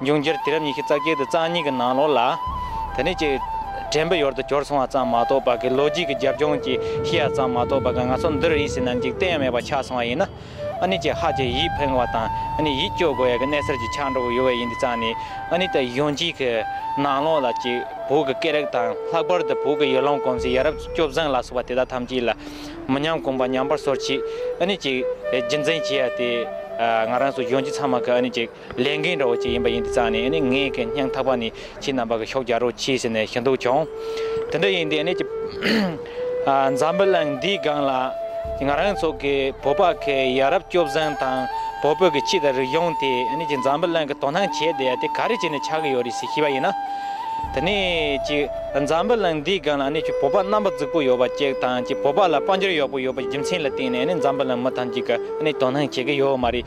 འབྱུང་འགྱུར་དུས་རབས་ཉི་ཤུ་རྩ་བརྒྱད་དུ་གཙང་གཉིས་ཀྱི་ནང་ལོགས་ལ། དེ་ནི་ཅི། དྲན་པའི་ཡོར་དུ་གྱུར་སོང་བ་ཙམ་མ་གཏོགས་པ་གི་ལོ་རྒྱུས་ཀྱི་རྒྱབ་ལྗོངས་ཀྱི་ཤེས་ཡ་ཙམ་མ་གཏོགས་པ་གི་ང་ཚོ་འདིར་ཡིད་སེམས་ན་འཇིག་རྟེན་ཡང་མེད་པ་ཆགས་སོང་བ་ཡིན་ན། ཨ་ནི་ཅི་ཧ་ཅེ་ཡིད་ཕེང་བ་དང་ཨ་ནི་ཡིད་སྐྱོ་དགོས་ཡ་གི་གནས་སར་ཅི་ཆགས་འགྲོ་གི་ཡོད་བ་ཡིན་དུས་གཙང་ནི་ཨ་ནི་ད་ཡོང་གྱི་གི་ནང་ལོགས་ལ་ཅི། བོད་ཀྱི་སྐད་རིགས་དང་ལྷག་པར་དུ་བོད་ཀྱི་ཡུལ་ལམ་གོམས་གཤིས་ཡ་རབས་ཀྱི་སྐྱོ་བཟང་ལ་སོགས་པ་དེ་དག་ཐམས་ཅད་ལ། མི་ཉམས་གོམས་པ་ཉམས་པར་སོར་ཆུད་ཨ་ནི་ཅི། རྒྱུ་མཚན་ཅི་ཡ་དེ། ང་རང་སོགས་ཡོང་གྱི་ཚང་མ་གི་ཨ་ནི་ཅི། ལས་འགན་རོགས་ཅིག་ཡིན་པ་ཡིན་དེ་ཙང་ནི་ངའི་གན་རྙང་ཐག་པ་ནི་ཁྱེད་རྣམ་པ་གི་ཤོག་རྒྱག་རོགས་གྱིས་ཟེར་ནས་ཞུ་འདུག་བྱུང། དེ་འདྲ་ཡིན་དེ་ནི་འཛམ་བུ་གླིང་འདིའི་སྒང་ལ་ང་རང་ཚོ་གི་བོད་པ་ཁའི་ཡ་རབས་སྐྱོབ་བཟང་དང་བོད་བོད་ཀྱི་སྤྱི་དང་རིག་གཞུང་དེ་འཛམ་བུ་གླིང་གི་དོ་སྣང་བྱེད་བསྡད་དེ་ག་རེ་བྱས་ནས་ཆགས་ཀྱི་ཡོད་རེད་ཟེར་ཤེས་པ་ཡིན་ན། དེ་ནི་འཛམ་བུ་གླིང་འདིའི་སྒང་ལ་བོད་པ་རྣམ་པ་རྫིག་པོ་ཡོད་པ་གཅིག་དང་བོད་པ་ལ་དཔལ་འབྱོར་ཡག་པོ་ཡོད་པའི་རྒྱུ་མཚན་ལ་བརྟེན་ནས་འཛམ་བུ་གླིང་མི་ཐམས་ཅད་ཀྱིས་དོ་སྣང་བྱེད་ཀྱི་ཡོད་མ་རེད།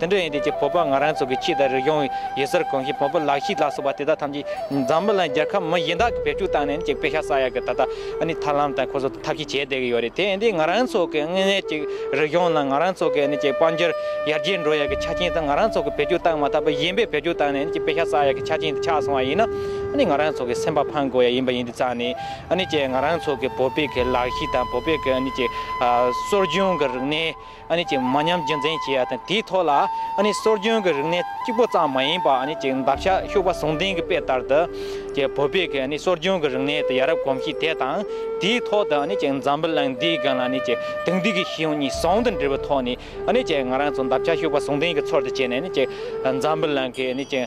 དེ་འདྲ་ཡིན་དེ་ཀྱི་བོད་པ་ང་རང་ཚོ་གི་ཕྱི་དང་རིག་གཞུང་ཡོད་སར་གོང་གཞི་བོན་པོ་ལག་ཤི་ལ་སོགས་པ་དེ་དག་ཐམས་ཅད་འཛམ་བུ་ལ་རྒྱལ་ཁབ་མི་གཞན་དག་གི་བེད་སྤྱོད་བཏང་ནས་ནི་ཅིག་དཔེ་ཤ་ཟ་ཡག་གི་ད་ལྟ་ནི་ཐར་ལམ་དང་ཁོ་ཚོ་ཐབས་ཤེས་བྱས་བསྡད་ཀྱི་ཡོད་རེད་དེ་ཡིན་དེ་ང་རང་ཚོ་གི་དངོས་གནས་ཅིག་རིག་གཞུང་དང་ང་རང་ཚོ་གི་ནི་ཅིག་དཔལ་འབྱོར་ཡར་རྒྱས་འགྲོ་ཡག་གི་ཆ་རྐྱེན་དང་ང་རང་ཚོ་གི་བེད་སྤྱོད་བཏང་མ་ཐག་པ་གཞན་པའི་བེད་སྤྱོད་བཏང་ནས་ནི་ཅིག་དཔེ་ཤ་ཟ་ཡག་གི་ཆ་རྐྱེན་དེ་ཆགས་སོང་བ་ཡིན་ན་ནི་ང་རང་ཚོ་གི་སེམས་པ་ཕངས་དགོས་ཡག་ཡིན་པ་ཡིན་དེ་རྩ་ནི་ནི་ཅིག་ང་རང་ཚོ་གི་བོད་པའི་གི་ལག་ཤི་དང་བོད་པའི་གི་ནི་ཅིག་གསོ་སྦྱོང་གི་རིག་གནས་མ་ཉམས་རྒྱུན་འཛིན་བྱེད་ཡ་དང་དེའི་ཐོག་ལ་སྲོལ་རྒྱུན་གྱི་རིག་གནས་གཅིག་པོ་ཙམ་མ་ཡིན་པར་འདབ་ཆགས་ཤུག་པ་ཟུང་ལྡན་གྱི་དཔེ་ལྟར་དུ། བོད་པའི་སྲོལ་རྒྱུན་གྱི་རིག་གནས་དང་ཡ་རབས་གོམས་གཤིས་དེ་དང་དེའི་ཐོག་ཏུ་འཛམ་བུ་གླིང་འདིའི་སྒང་ལ་དེང་དུས་ཀྱི་ཤེས་ཡོན་གཉིས་ཟུང་དུ་འབྲེལ་བའི་ཐོག་ནས་ང་རང་ཚོ་འདབ་ཆགས་ཤུག་པ་ཟུང་ལྡན་གྱི་ཚོར་དུ་བྱས་ནས་འཛམ་བུ་གླིང་གི།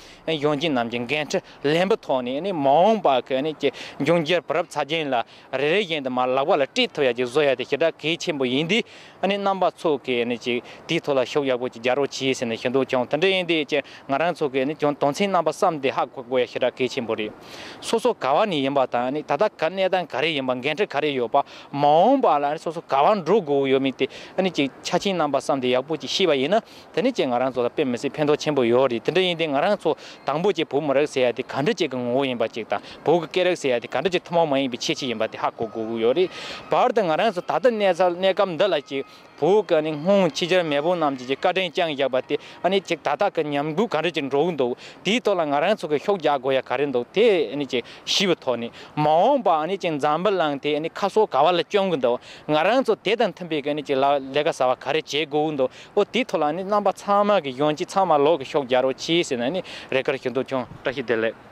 གཞུང་ཆེན་རྣམས་ཀྱི་འགན་འཁྲི་ལེན་པའི་ཐོག་ནས་མ་འོངས་པ་གལ་གནད་ཀྱི་འབྱུང་འགྱུར་བར་རབ་ཚ་རྒྱུན་ལ་རེ་རེ་བཞིན་དུ་མར་ལག་པ་ལ་དཀྲིས་ཐུབ་ཡ་གཅིག་བཟོ་ཡ་དེ་ཞེ་དྲག་གལ་ཆེན་པོ་ཡིན་དུས། རྣམ་པ་ཚོ་གིས་ཅིག་དེའི་ཐོག་ལ་ཤུགས་ཡག་པོ་ཅིག་རྒྱག་རོགས་གྱིས་ཟེར་ནས་ཞུ་འདོད་བྱུང་དེ་འདྲ་ཡིན་དུས་ཀྱང་ང་རང་ཚོ་གིས་ཀྱང་དོན་ཚན་རྣམ་པ་བསམ་ཏེ་ཧ་གོ་དགོས་ཡ་ཞེ་དྲག་གལ་ཆེན་པོ་རེད། སོ་སོ་ག་བ་ནས་ཡིན་པ་དང་ད་ལྟ་ག་གནས་སྟངས་ག་རེ་ཡིན་པ་འགན་འཁྲི་ག་རེ་ཡོད་པ་མ་འོངས་པ་ལ་སོ་སོ་ག་བ་འགྲོ་དགོས་ཡོད་མེད་དེ་ཅིག་ཆ་ཆེན་རྣམ་པ་བསམ་ཏེ་ཡག་པོ་ཅིག་ཤེས་པ་ཡིན་ན་དེ་ནི་ཁྱེད་ང་རང་ཚོ་ལ་དཔེ་མི་སྲིད་ཕན་ཐོགས་ཆེན་པོ་ཡོད་རེད་དེ་འདྲ་ཡིན་དུས་ང་རང་ཚོ་དང་པོ་ཆེ་བོད་མི་རག་ཟེར་ཡ་དེ་ག་འདྲ་ཆེ་གི་ངོ་བོ་ཡིན་པ་ཅིག་དང་བོད་ཀྱི་སྐད་རག་ཟེར་ཡ་དེ་ག་འདྲ་ཆེ་ཐུན་མོང་མ་ཡིན་པའི་ཆེ་ཆེ་ཡིན་པ་དེ་ཧ་གོ་དགོས་ཀྱི་ཡོད་རེད་བར་དུ་ང་རང་ཚོ་ད་ལྟ་གནས་ཚ་གནས་སྐབས་འདི་ལ་ཅིག་བོད་ཀྱི་ནི་སྔོན་ཕྱི་འཇར་མན་བོད་རྣམས་ཀྱི་ཅིག་བཀའ་དྲིན་རྐྱང་བཞག་པ་དེ་ནི་ཅིག་ད་ལྟ་གི་ཉམས་རྒུད་ག་འདྲ་ཅིག་འགྲོ་གི་འདུག་དེའི་ཐོག་ལ་ང་རང་ཚོ་གི་ཤོག་རྒྱག་དགོས་ཡ་ག་རེ་འདུག་དེ་ནི་ཅིག་ཞི་བའི་ཐོག་ནས་མ་འོངས་པ་ནི་ཅིག་འཛམ་བུ་གླིང་དེ་ནི་ཁ་སོ་ག་བ་ལ་བསྐྱོན་གྱི་འདུག་ང་རང་ཚོ་དེ་དང་མཐུན་པའི་གི་ནི་ཅིག་ལ་ལས་ཀ་ཟ་བ་ག་རེ་བྱེད་དགོས་གི་འདུག། ཨོ་དེའི་ཐོག་ལ་ནི་རྣམ་པ་ཚང་མ་གི་ཡོང་གྱིས་ཚང་མ་ལོག་གི་ཤོག་རྒྱ་རོ་གྱིས་ཟེར་ན་ནི་རེ་ཁར་ཞུ་འདུག་ཀྱང། བཀྲ་ཤིས་བདེ་ལེགས།